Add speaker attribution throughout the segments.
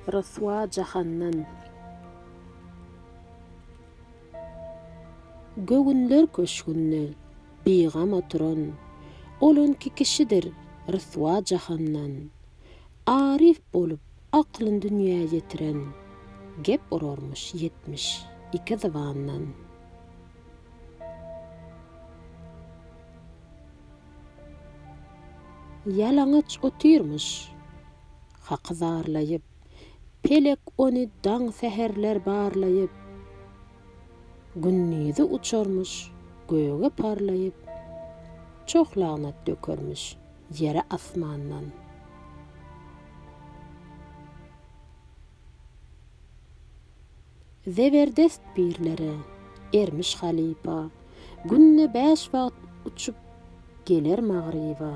Speaker 1: Ryswa jahandan. Göwünler köşgünde bigam oturan, Ol öňki kişidir ryswa jahandan. Aryf bolup aklyn dünýä ýetiren, Gep urarmyş ýetmiş iki zybandan. Ýalaňaç otyrmyş. Haky zarlaýyp. Pelek ony daň säherler barlaýyp. Gündizi uçarmyş göge parlaýyp. Çoh lagnat dökermiş ýere asmandan. Zeberdest birlere ermiş halypa. Günde bäş wagt uçup geler magryba.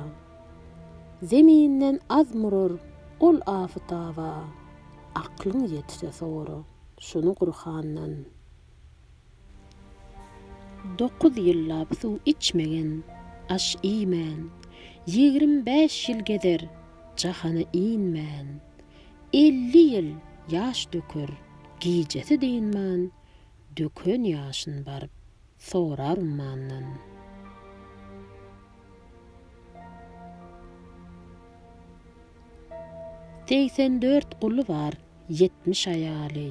Speaker 1: Zeminden az murar ol afytaba. Aklyň ýetse sora şuny Gurhandan. Dokuz ýyllap suw içmegen, aş iýmän. Ýigrim bäş ýyl gezer jahana inmän. Elli ýyl ýaş döker, gijesi dynman, Döken ýaşyn baryp, sorar ummandan. Segsen dört guly bar, ýetmiş aýaly,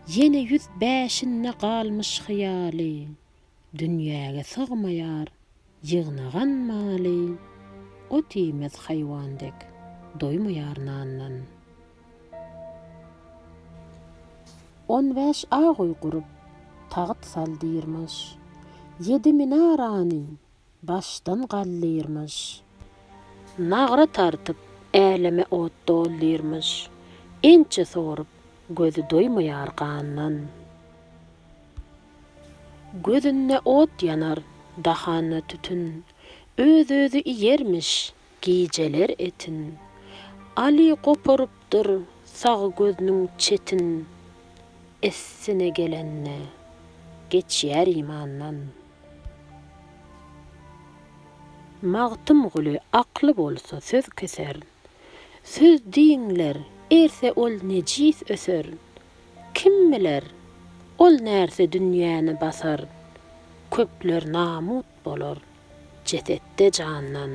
Speaker 1: Ýene ýüz bäşinde galmyş hyýaly. Dünýäge sygmaýar ýygnagan maly, Ot iýmez haýwan dek, doýmaýar nandan. On bäş aguý gurup, tagyt sal diýrmiş, Ýedi minarany başdan galdyrmyş. Nagra tartyp, äleme ot doldyrmyş. Ençe sorup, gözi doýmaýar gandan. Gözünde ot ýanar, dahanda tütün. Öz-özi iýermiş, gijeler etin. Aly goparypdyr, sag gözüniň çetin. Essine gelende, geçýär imandan. Magtymguly akly bolsa söz keser, Söz diňler, erse ol nejis öser. Kim biler, ol närse dünýäni basar, Köpler namut bolar, jesetde jandan.